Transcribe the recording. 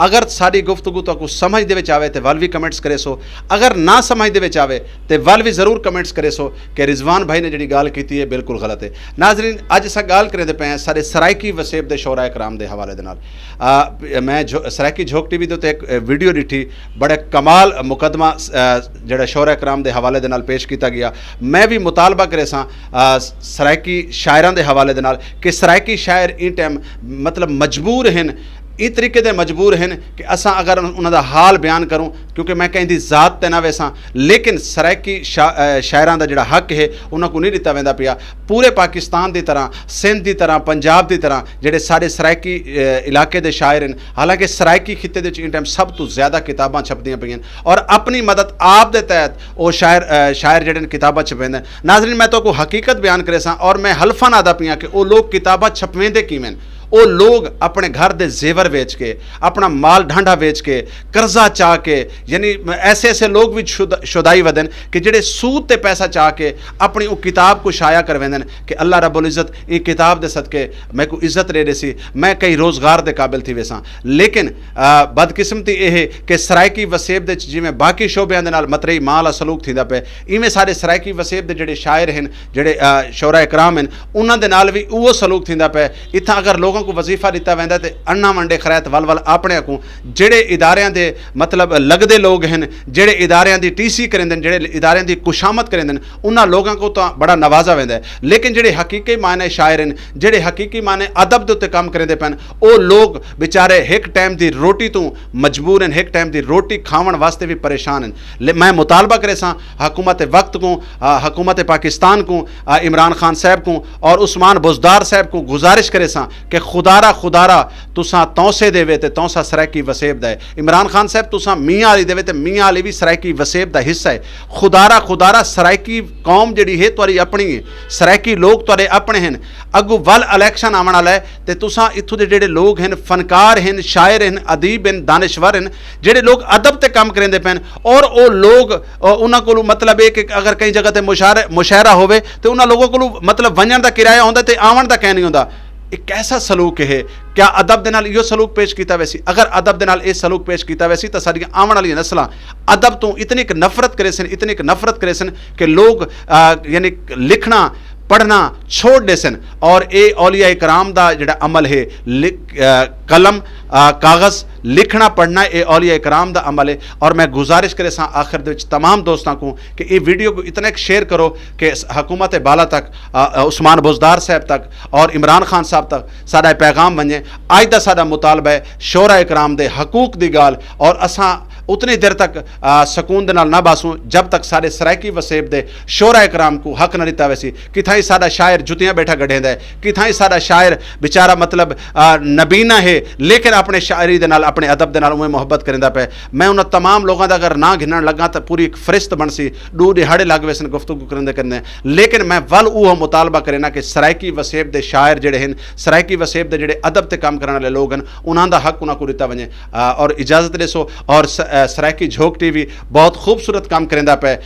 اگر ساڈی گفتگو تہاکوں سمجھ دے وچ آوے تے ول وی کمنٹس کریسو اگر نہ سمجھ دے وچ آوے تے ول وی ضرور کمنٹس کریسو کہ رضوان بھائی نے جیڑھی گالھ کیتی ہے بالکل غلط ہے ناظرین اج اساں گالھ کریندے پئے ہیں ساڈے سرائیکی وسیب دے شعراء کرام دے حوالے دے نال میں سرائیکی جھوک ٹی وی دے اتے ہک ویڈیو ڈیٹھی بڑے کمال مقدمہ جیڑھا شعراء کرام دے حوالے دے نال پیش کیتا گیا میں وی مطالبہ کریساں سرائیکی شاعراں دے حوالے دے نال کہ سرائیکی شاعر ایں ٹائم مطلب مجبور ہن ایں طریقے دے مجبور ہن کہ اساں اگر انہاں دا حال بیان کروں کیونکہ میں کہیں دی ذات تے نہ ویساں لیکن سرائیکی شاعراں دا جیڑھا حق ہے انہاں کوں نہیں ݙتا ویندا پیا پورے پاکستان دی طرح سندھ دی طرح پنجاب دی طرح جیڑھے ساݙے سرائیکی علاقے دے شاعر ہن حالانکہ سرائیکی خطے دے وچ ایں ٹائم سب توں زیادہ کتاباں چھپدیاں پئیاں ہن اور اپݨی مدد آپ دے تحت او شاعر شاعر جیڑھے ہن کتاباں چھپویندے ہن ناظرین میں تہاکوں حقیقت بیان کریساں اور میں حلفا نہادا پیاں کہ او لوک کتاباں چھپویندے کیویں ہن او لوگ اپݨے گھر دے زیور ویچ کے، اپݨا مال ڈھانڈھا ویچ کے، قرضہ چا کے یعنی ایسے ایسے لوگ وی شودائی ودن کہ جیڑھے سود تے پیسہ چا کے اپݨی اوں کتاب کوں شائع کرویندن کہ اللہ رب العزت ایں کتاب دے صدقے میکوں عزت ݙے ݙیسی میں کئی روزگار دے قابل تھی ویساں لیکن بدقسمتی اے ہے کہ سرائیکی وسیب دے وچ جیویں باقی شعبیاں دے نال متریئی ماں آلا سلوک تھیندا پئے ایویں ساݙے سرائیکی وسیب دے جیڑھے شاعر ہن جیڑھے شعراء کرام ہن انہاں دے نال وی اوہو سلوک تھیندا پئے اتھاں اگر لوکاں کوں وظیفہ ݙتا ویندا تے اݨاں ونڈے خریت ول ول آپݨے اکوں جیڑھے اداریاں دے مطلب لڳدے لوک ہن جیڑھے اداریاں دی ٹی سی کریندن جیڑھے اداریاں دی کشامت کریندن انہاں لوکاں کوں تاں بڑا نوازا ویندا ہے لیکن جیڑھے حقیقی معنی شاعر ہن جیڑھے حقیقی معنی ادب دے اتے کم کریندے پن او لوک بیچارے ہک ٹائم دی روٹی توں مجبور ہن ہک ٹائم دی روٹی کھاوݨ واسطے وی پریشان ہن میں مطالبہ کریساں حکومت وقت کوں، حکومت پاکستان کوں، عمران خان صاحب کوں اور عثمان بزدار صاحب کوں گزارش کریساں کہ خدارا خدارا تساں تونسے دے وے تے تونسا سرائیکی وسیب دا اے۔ عمران خان صاحب تساں میاں علی دے وے تے میاں علی وی سرائیکی وسیب دا حصہ اے۔ خدارا خدارا سرائیکی قوم جیڑھی ہے تہاڈی اپنی اے۔ سرائیکی لوگ تہاڈے اپنے ہن۔ اگوں ول الیکشن آون آلا اے تے تساں اتھوں دے جیڑھے لوگ ہن فنکار ہن، شاعر ہن، ادیب ہن، دانشور ہن، جیڑھے لوگ ادب تے کم کریندے پئن اور او لوگ انہاں کولوں مطلب اے کہ اگر کہیں جگہ تے مشاعرہ ہووے تے انہاں لوگاں کولوں مطلب ونجݨ دا کرایہ ہوندا تے آوݨ دا کائنی ہوندا اے کیسا سلوک ہے کیا ادب دے نال ایہو سلوک پیش کیتا ویسی اگر ادب دے نال اے سلوک پیش کیتا ویسی تاں ساڈیاں آوݨ آلیاں نسلاں ادب توں اتنیک نفرت کریسن اتنیک نفرت کریسن کہ لوگ یعنی لکھݨا پڑھنا چھوڑ ݙیسن اور اے اولیاء کرام دا جیڑھا عمل ہے قلم کاغذ لکھنا پڑھنا اے اولیاء کرام دا عمل اے اور میں گزارش کریساں آخر دے وچ تمام دوستاں کوں کہ ایں ویڈیو کوں اتنا ک شیئر کرو کہ حکومت بالا تک عثمان بزدار صاحب تک اور عمران خان صاحب تک ساڈا اے پیغام ونجے اج دا ساڈا مطالبہ اے شعراء کرام دے حقوق دی گال اور اساں اتنی دیر تک سکون دے نال نہ باسوں جب تک ساڈے سرائیکی وسیب دے شعراء کرام کوں حق نہ ڈتا ویسی کتھائیں ساڈا شاعر جتیاں بیٹھا گڈھیندا اے کتھائیں ساڈا شاعر بیچارہ مطلب نبینا ہے لیکن اپنے شاعری دے نال اپنے ادب دے نال اونویں محبت کریندا پئے میں انہاں تمام لوگاں دا اگر ناں گھنن لگاں تاں پوری ہک فہرست بنسی ڈو ڈیہاڑے لگ ویسن گفتگو کریندے کریندے لیکن میں ول اوہو مطالبہ کرینا کہ سرائیکی وسیب دے شاعر جیڑھے ہن سرائیکی وسیب دے جیڑھے ادب تے کم کرن آلے لوگ ہن انہاں دا حق انہاں کوں ڈتا ونجے اور اجازت ڈیسو اور سرائیکی جھوک ٹی وی بہت خوبصورت کم کریندا پئے